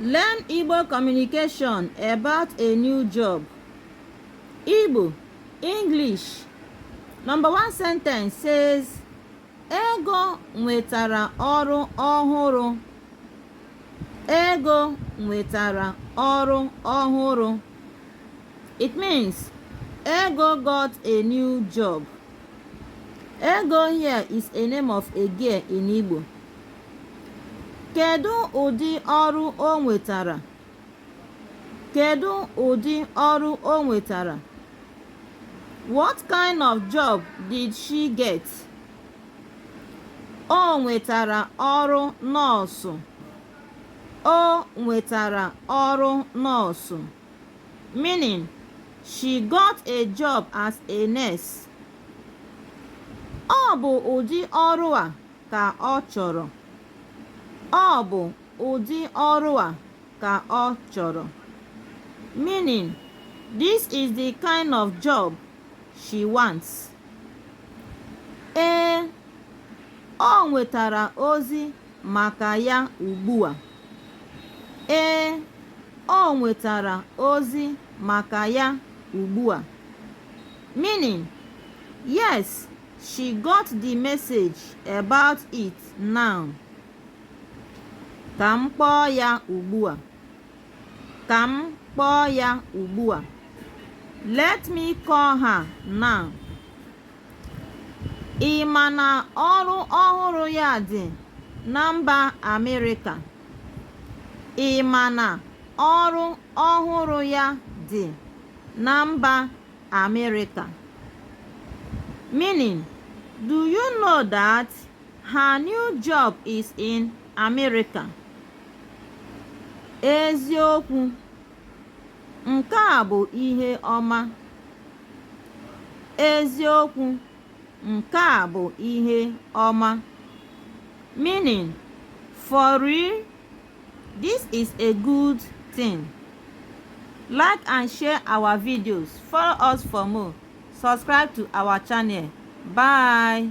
Learn Igbo communication about a new job. Igbo, English. Number one sentence says, Ego nwetara ọrụ ọhụrụ. Ego nwetara ọrụ ọhụrụ. It means Ego got a new job. Ego here is a name of a girl in Igbo. Kedu ụdị ọrụ o nwetara? Kedu ụdị ọrụ o nwetara? What kind of job did she get? O nwetara ọrụ nọọsụ. O nwetara ọrụ nọọsụ. meaning she got a job as a nurse. Ọ bụ ụdị ọrụ a ka ọ chọrọ. Ọ bụ ụdị ọrụ a ka ọ chọrọ. Meaning, this is the kind of job she wants. Ee, o nwetara ozi maka ya ugbu a. Ee, o nwetara ozi maka ya ugbu a. Meaning, yes, she got the message about it now. Ka m kpọọ ya ugbu a. Ka m kpọọ ya ugbu a. Let me call her now. Ị ma na ọrụ ọhụrụ ya dị na mba Amerịka? Ị ma na ọrụ ọhụrụ ya dị na mba Amerịka? Meaning, do you know that her new job is in America? Eziokwu Nke a bụ ihe ọma. Eziokwu, nke a bụ ihe ọma. Meaning, for real, this is a good thing. Like and share our videos. Follow us for more. Subscribe to our channel. Bye.